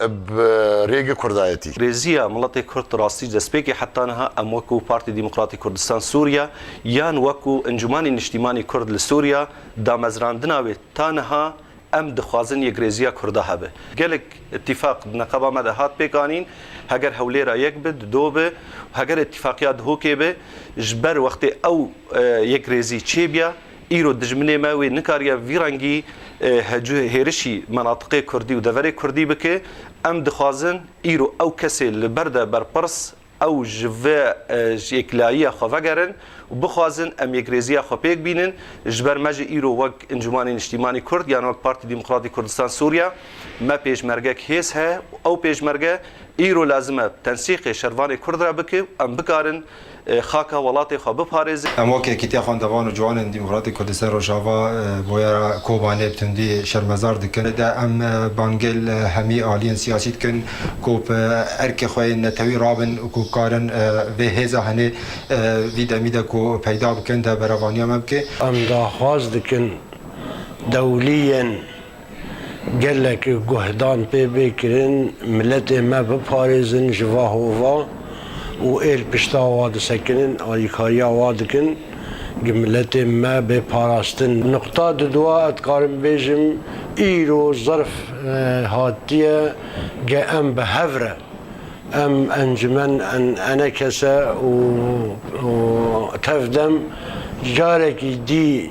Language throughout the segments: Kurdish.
bi rêge kurdayetî. Rêziya miletê kurd di rastî destpêkê heta niha em wekû Partî Demokratîk Kurdistan Sûriye yan wekû Encûmanê Niştîmanê Kurd li Sûriye damezrandina wê ta niha em dixwazin yekrêziya kurda hebe. Gelek îtîfaq di neqeba me de hat pêkanîn, heger Hewlêra yek bi, di do bi, heger îtîfaqiya Dihokê bi, ji ber wextê ew yekrêzî çêbiya, Îro dijminê me wê nikariye vî rengî hecû hêrişî menatiqê kurdî û deverê kurdî bike. Em dixwazin îro ew kesê li ber de berpirs ew ji vê yeklayîya xwe vegerin û bixwazin em yekrêzîya xwe pêk bînin. Ji ber me jî îro wek Encûmanê Niştîmanî Kurd yan wek Partî Demokratî Kurdistan Sûriya me pêşmergek hêz heye û ew pêşmerge îro lazim e tensîqê şervanê kurd re bike û em bikarin xaka welatê xwe biparêzin. Em weke Yekîtiya Xwendevan û Ciwanên Demokratîk Kurdistan Rojava Boyera Kobanê bi tundî şermezar dikin. Li de em bangê li hemî aliyên siyasî dikin ku bi erkê xwe yên netewî rabin û ku karin vê hêza henê vî demî de ku peyda bikin de berevaniya me bike. Em daxwaz dikin dewliyên Gelek guhdan pê bê kirin miletê me biparêzin ji va hova û ê li pişta wa disekinin, alîkariya wa dikin gi miletê me bê parastin. Nuqta di du a dikarim bêjim îro zerf hatiye ge em bi hev re em encimen ene kese û tev dem carekî dî,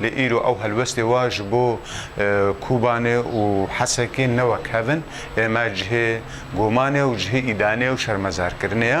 Lê îro ew helwestê wa ji bo Kobanê û Hesekê ne wek hev in, lê me cihê gomanê û cihê îdanê û şermezarkirinê ye.